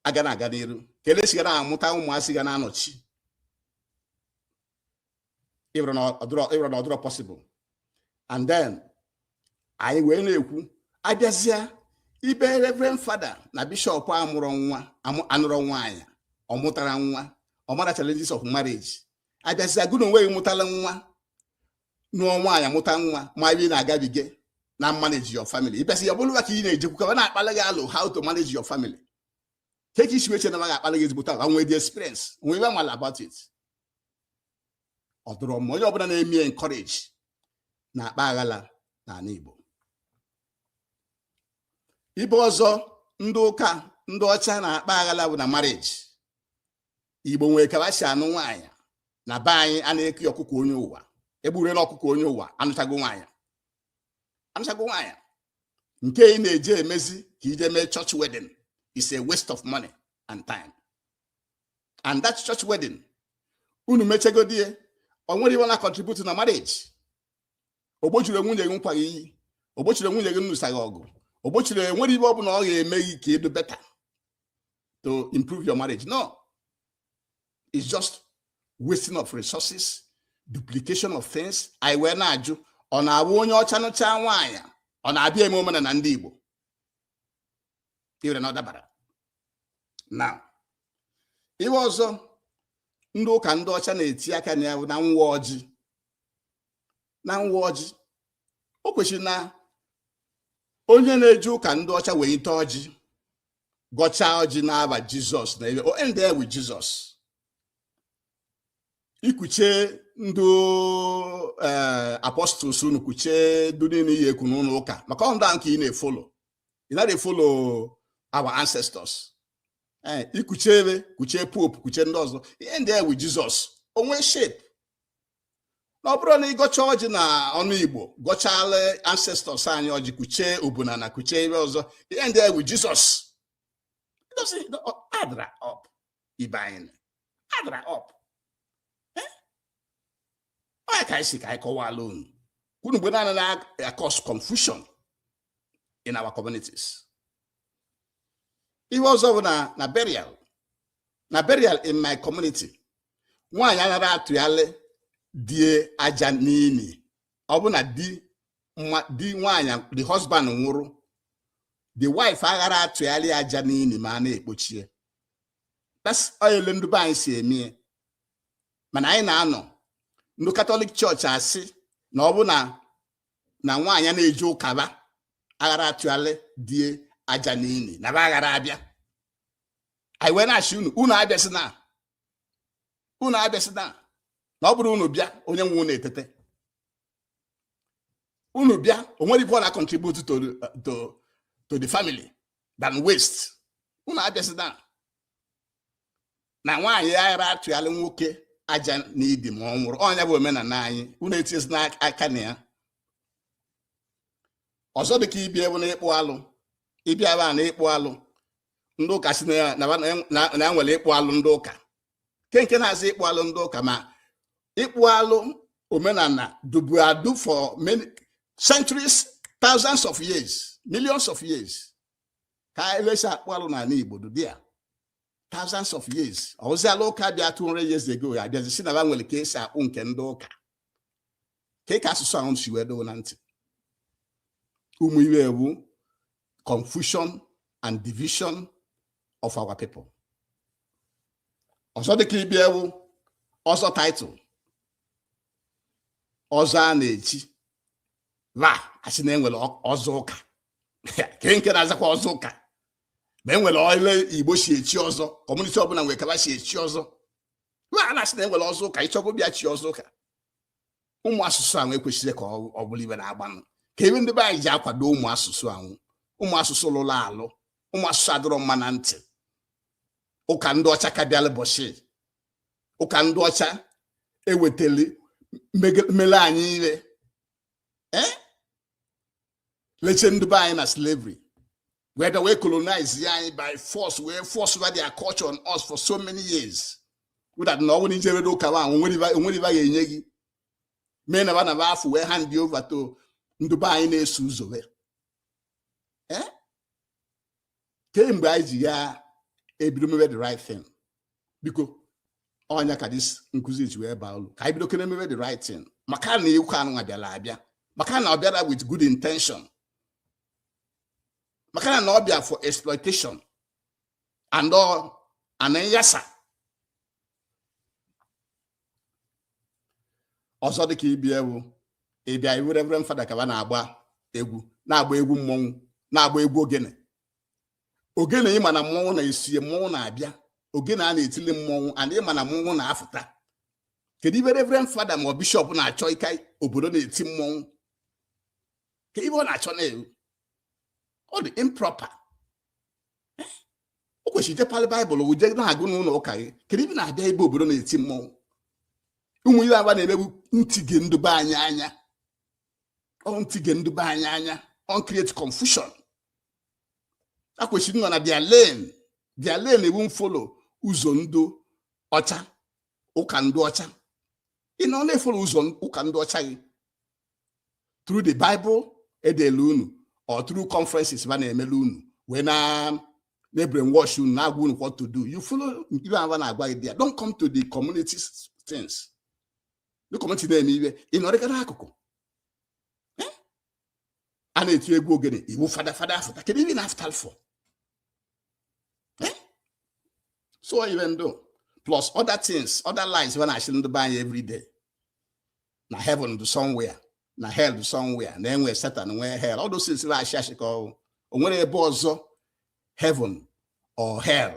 aga na-aga n'iru kedu e si ga na-amụta ụmụazị ga na-anọchi ị wụrụ na ọ dụrọ possible and then anyị wee na-ekwu a bịazịa ebe reverend father na bishop amụrọ nwa anụrọ nwaanyị ọ mụtarọ nwa ọ marọ challenges of marriage a bịazịa gụ na onwe gị mụtara nwa nụọ nwaanyị mụta nwa ma ị na-agabiga na manage your family ị bịazị ya bụrụ ba ka ị na-ejekwu ka ba na-akpala gị alọ how to manage your family kee ka i si wee che na ba ga-akpala gị ezigbote alọ nwee the experience nwee iwe ba mala about it ọ dụrọ mma onye ọbụla na-eme encourage na-akpa aghala n'ala Igbo ibe ọzọ ndị ụka ndị ọcha na-akpa aghala bụ na marriage Igbo nwere ka e si anụ nwaanyị na be anyị a na-eke ọkụkọ onye ụwa egburela ọkụkọ onye ụwa anụchago nwaanyị anụchago nwaanyị nke ị na-eje emezi ka i je mee church wedding is a waste of money and time and that church wedding unu mechegodi ya o nwere iwe ọ na contribute na marriage o gbochiri nwunye gị nkwa gị iyi o gbochiri nwunye gị nnụsa gị ọgụ o gbochiri o nwere ibe ọ bụla ọ ga-eme gị ka ị dụ better to improve your marriage no is just wasting of resources duplication of things anyị wee na-ajụ ọ na-awụ onye ọcha nụcha nwaanyị ọ na-abịa eme omenala ndị Igbo iwere na ọ dabara no iwe ọzọ ndị ụka ndị ọcha na-eti aka na ya na nwa ọjị na nwa ọjị o kwesịrị na onye na-eje ụka ndị ọcha welite ọjị gọchaa ọjị n'aba Jesus na ebe o end there with Jesus i kuche ndị eh, apostles unu kuche ndị niile ị ya eku n'ụlọ ụka maka ọ ndị ahụ ka ị na-efollow ị naghị efollow our ancestors Eh, i kuche ebe kuche pope kuche ndị ọzọ i end there with Jesus o nwe shape na ọ bụrụ na ịgọcha ọjị na ọnụ igbo gọchala ancestors anyị ọjị kuchee obuna na kuchee ebe ọzọ ị endie with jizọs adra up ibe anyị adra up eh? ọ nya ka anyị si ka anyị kọwala unu ka unu mgbe naanị na-acause confusion in our communities ihe ọzọ bụ na na burial na burial in my community nwaanyị aghara atụyalị die aja n'ini ọ bụ na di di nwaanyị the husband nwụrụ the wife aghara atụyalị aja n'ini ma a na-ekpochie that's ole ndị be anyị si eme mana anyị na-anọ ndị katọlik chọọchị asị na ọ bụ na na nwaanyị na-eje ụka ba aghara atụyalị die aja n'ini na ba aghara abịa anyị wee na-asị unu unu abịasịna unu abịasịna na ọ bụrụ unu bịa onye nwụnụ etete unu bịa o nwere ife ọ na-contribute to, to, to the family than waste unu abịasịna na nwaanyị ara atụyalị nwoke aja n'ini ma ọ nwụrụ ọ nya bụ omenala anyị unu etinyezina aka na ya ọzọ dịka ibie bụ na ịkpụ alụ ị bịa ebe a na ịkpụ alụ ndị ụka sị na ya na ya- na ya- na ya nwere ịkpụ alụ ndị ụka ke nke na-azị ịkpụ alụ ndị ụka ma ịkpụ alụ omenala dụbu adụ for many centuries thousands of years millions of years ka elesi akpụ alụ n'ala igbo dụdị ya thousands of years ọzịala ụka bịa 200 years ago ya abịazi sị na ba nwere ka esi akpụ nke ndị ụka ke ka asụsụ ahụ si wee dụ unu na ntị ụmụ iwe wụ confusion and division of our people ọzọ dịka ibie wụ ọzọ title ọzọ a na-echi wa asị na enwere ọzọ ụka ke nke na-azakwa ọzọ ụka ma enwere ole igbo si echi ọzọ kọmuniti ọbụla nwere ka ba si echi ọzọ wa na-asị na enwere ọzọ ụka ị chọgo bịa chi ọzọ ụka ụmụ asụsụ ahụ ekwesire ka ọ bụrụ ibe na-agbanụ ka iwe ndị be anyị ji akwado ụmụ asụsụ ahụ ụmụ asụsụ lụrụ alụ ụmụ asụsụ adịrọ mma na ntị ụka ndị ọcha ka bịala bọchị ụka ndị ọcha ewetali mele anyị iwe leche ndị be anyị na slavery wee bịa wee colonizie anyị by force wee force over their culture on us for so many years without na ọ bụ na ijere ụka ba o nwere ibe ga-enye gị mee na ba na ba afụ wee handie over to ndị be anyị na-eso ụzọ wee kee mgbe anyị ji ya ebido mebe the right thing biko ọ nya ka this nkụzi ji wee baa ulu ka anyị bidokene mebe the right thing maka na ụka anụnwa bịara abịa maka na ọ bịara with good intention maka na ọ bịa for exploitation and all ana nyasa ọzọ dịka ibe ya wụ ị bịa ị vụ reverend fada ka ba na-agba egwu na-agba egwu mmọnwụ na-agba egwu ogene ogene ị ma na mmọnwụ na-esi mmọnwụ na-abịa ogene a na-etili mmọnwụ and ị ma na mmọnwụ na-afụta kedu ive reverend fada ma ọ bishọp na-achọ ịka obodo na-eti mmọnwụ kee ive ọ na-achọ na-ewu ọ dụ improper o kwesịrị ị je palị baịbụl je na-agụ n'ụnọ ụka gị kedu ive ị na-abịa ebe obodo na-eti mmọnwụ ụmụ ihe a ba na-eme wụ ntighe ndụ be anyị anya ọ ntighe ndụ be anyị anya and create confusion akwesịrị nọ na their lane their lane wụ mfolo ụzọ ndụ ọcha ụka ndụ ọcha ị nọ na-efolo ụzọ ụka ndụ ọcha gị through the bible edele unu or through conferences ba na-emele unu wee na-ebrainwash unu na-agwa unu what to do you follow ive a ba na-agwa gị there don't come to the community things the community na-eme ive ị nọrịka n'akụkụ eh? a na-eti egwu ogene ị vụ fada fada afụta kedu ive ị na-afụtalụ for so ive ndụ a plus other things other lies a na-ashị ndụ be anyị every day na heaven dụ somewhere na hell dụ somewhere na enwe satan nwee hell all those things ashị ashị ka ọ wụ o nwere ebe ọzọ heaven or hell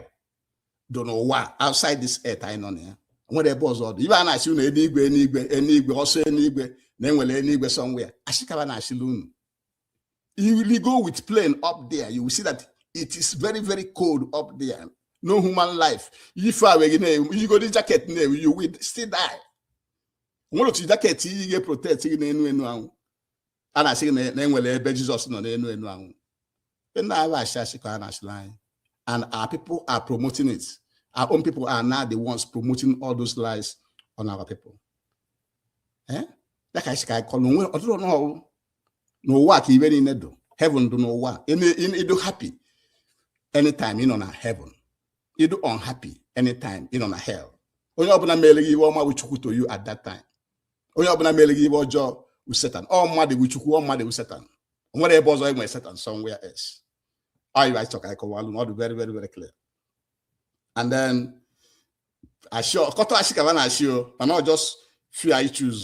dụ n'ụwa outside this earth anyị nọ na ya o nwere ebe ọzọ ọ dụ ive a na-ashị unu enigwe enigwe enigwe ọ sị enigwe na e nwere enigwe somewhere ashị ka ba na-ashịlị unu ị ligo with plane up there you will see that it is very very cold up there no human life ife a wee gị na-ewu i yigodi jacket na-ewu you will still die nwere ụdị jacket i yi ga protect gị n'enu enu anwụ a na-asị gị na enwere ebe jizọs nọ n'enu enu anwụ na ọ wụ ashị ashị ka a na-ashịlị anyị and our people are promoting it our own people are now the ones promoting all those lies on our people eh? ya ka anyị si ka anyị kọrọ onwe ọtụtụ ọnụ ọrụ n'ụwa ka ive niine dụ heaven dụ n'ụwa ị dụ happy anytime ị nọ na heaven ị dụ unhappy anytime ị nọ na hell onye ọbụla mele gị ive ọma wụ chukwu to you at that time onye ọbụla mele gị ive ọjọọ wụ satan ọ mmadụ wụ chukwu ọ mmadụ wụ satan o nwere ebe ọzọ e nwere satan somewhere else ọ ive anyị chọ ka ịkọwalụ na ọ dị very very very clear and then ashị ọkọta ashị ka a na-ashị o mana ọ just few anyị choose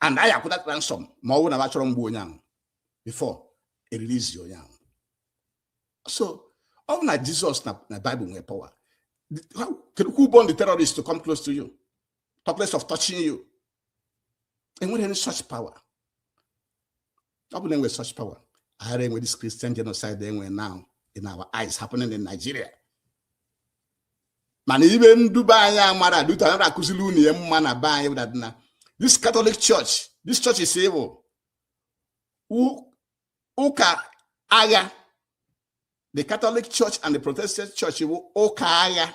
and anyị akwụọ that ransom ma ọ bụrụ na ba achọrọ igbu onye ahụ before e release onye ahụ so ọ bụ na Jizọs na Bible nwere power kedu who born the terrorist to come close to you talk less of touching you enwerọ any such power ọ bụlụ e nwe such power aghara enwe this Christian genocide e nwe now in our eyes happening in Nigeria mana iwe ndụ be anyị amara due to anara akụziri unu ya mma na be anyị wụdadị na this Catholic Church this churches bụ ụka aya the Catholic Church and the Protestant Church bụ ụka aya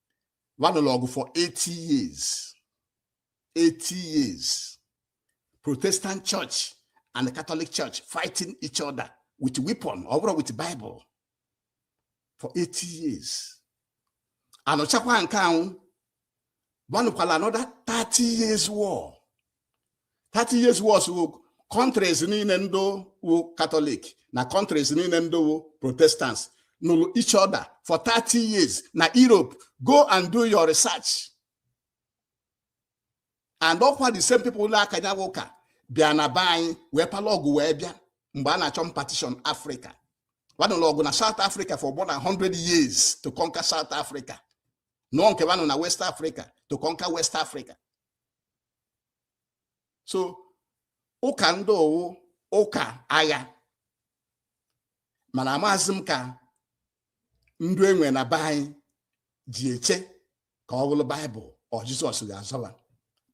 nụrụ ọgụ for 80 years 80 years protestant church and the catholic church fighting each other with weapon ọ bụrọ with bible for 80 years anụchakwa nke ahụ wa anụkwala another 30 years war 30 years wars wụ countries niile ndị wụ katọlik na countries niile ndị wụ protestants nụrụ each other for 30 years na europe go and do your research and ọkwa the same people ụlọ aka ya wụ ụka bịa na be anyị wee pala ọgụ wee bịa mgbe a na-achọ partition africa wa nụlụ ọgụ na south africa for more than 100 years to conquer south africa nụọ nke wa nụ na west africa to conquer west africa so ụka ndị ahụ wụ ụka agha mana amaghịzi m ka ndụ e nwe na be anyị ji eche ka ọ bụrụ baịbụl or jizọs ga-azọ ba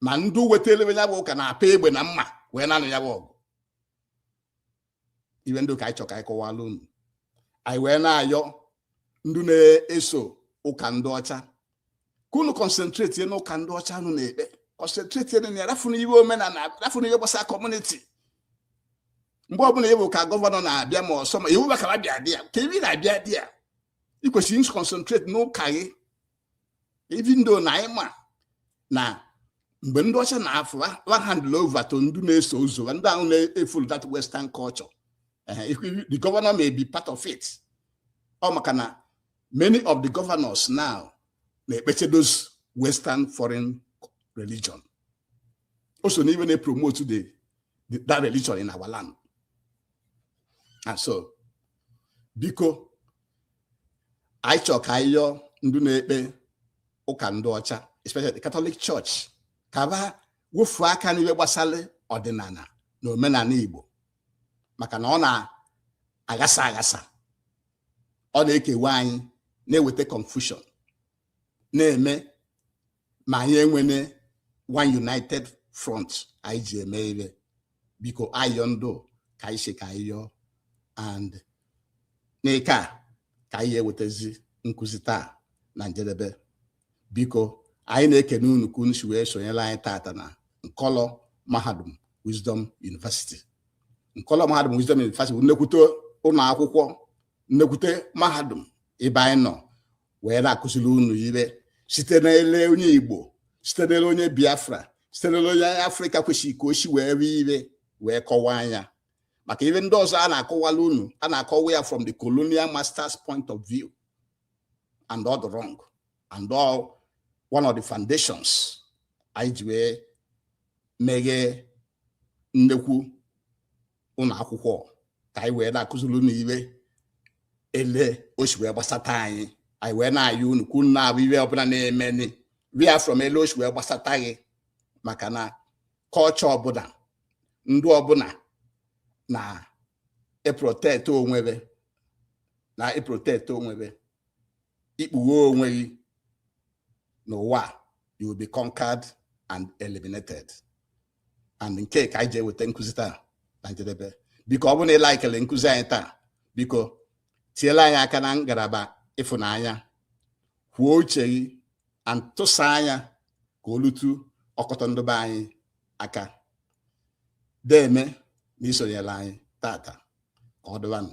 ma ndụ wetara ya bụ ụka na-apa egbe na mma wee na-anụ ya bụ ọgụ iwe ndị a ka anyị chọ ka anyị kọwala unu anyị wee na-ayọ ndị na-eso ụka ndị ọcha ka unu concentrate n'ụka ndị ọcha unu na-ekpe concentrate na ya rafụnụ iwe omenala rafụnụ iwe gbasara community mgbe ọbụla ịbụ ka gọvanọ na-abịa ma ọsọ ma iwu bakara bịa there ka ibi na-abịa there ị kwesịrị ịconcentrate n'ụka gị even though na anyị ma na mgbe ndị ọcha na-afụ wa handle over to ndị na-eso ụzọ ndị ahụ na-efollow that western culture the governor may be part of it ọ maka na many of the governors now na-ekpecha those western foreign religion o so na iwe na-epromote the that religion in our land and so biko anyị chọ ka anyị yọọ ndị na-ekpe ụka ndị ọcha especially the Catholic Church ka ba wofuo aka n'iwe gbasara ọdịnala na omenala Igbo maka na ọ na-aghasa aghasa ọ na-ekewa anyị na-eweta confusion na-eme ma anyị enwene one united front anyị ji eme ihe biko ayịyọ ndụ ka anyị sị ka anyị yọọ and nke a ka anyị ewetazi nkụzi taa na njedebe biko anyị na-ekene unu ka unu si wee sonyere anyị tata na nkọlọ mahadum wisdom university nkọlọ mahadum wisdom university nnekwute ụnọ akwụkwọ nnekwute mahadum ebe anyị nọ wee na-akụziri unu ihe site n'ele onye igbo site n'ele onye biafra site n'ele onye afrịka kwesịrị ka o si wee hụ ihe wee kọwaa nya maka ihe ndị ọzọ a na-akọwala unu a na-akọwa ya from the colonial masters point of view and ọ dị wrong and ọ one of the foundations anyị ji wee meghee nnekwu ụnọ akwụkwọ ka anyị wee na-akụziri unu ihe ele o si wee gbasata anyị anyị wee na-ayọ unu ka unu na-ahụ ihe ọbụla na-emeni ria from ele o si wee gbasata gị maka na culture ọbụla ndụ ọbụla na-eprotect onwe be na-eprotect onwe be i kpughe onwe gị n'ụwa you will be conquered and eliminated and nke a ka anyị ji eweta nkụzi taa na njedebe biko ọ bụrụ na ị likele nkụzi anyị taa biko tiela anyị aka na ngalaba ịfụnanya kwuo uche gị and tụsaa nya ka o lute ọkọtọ ndụ be anyị aka deeme n'isonyela anyị tata ka ọ dịbanụ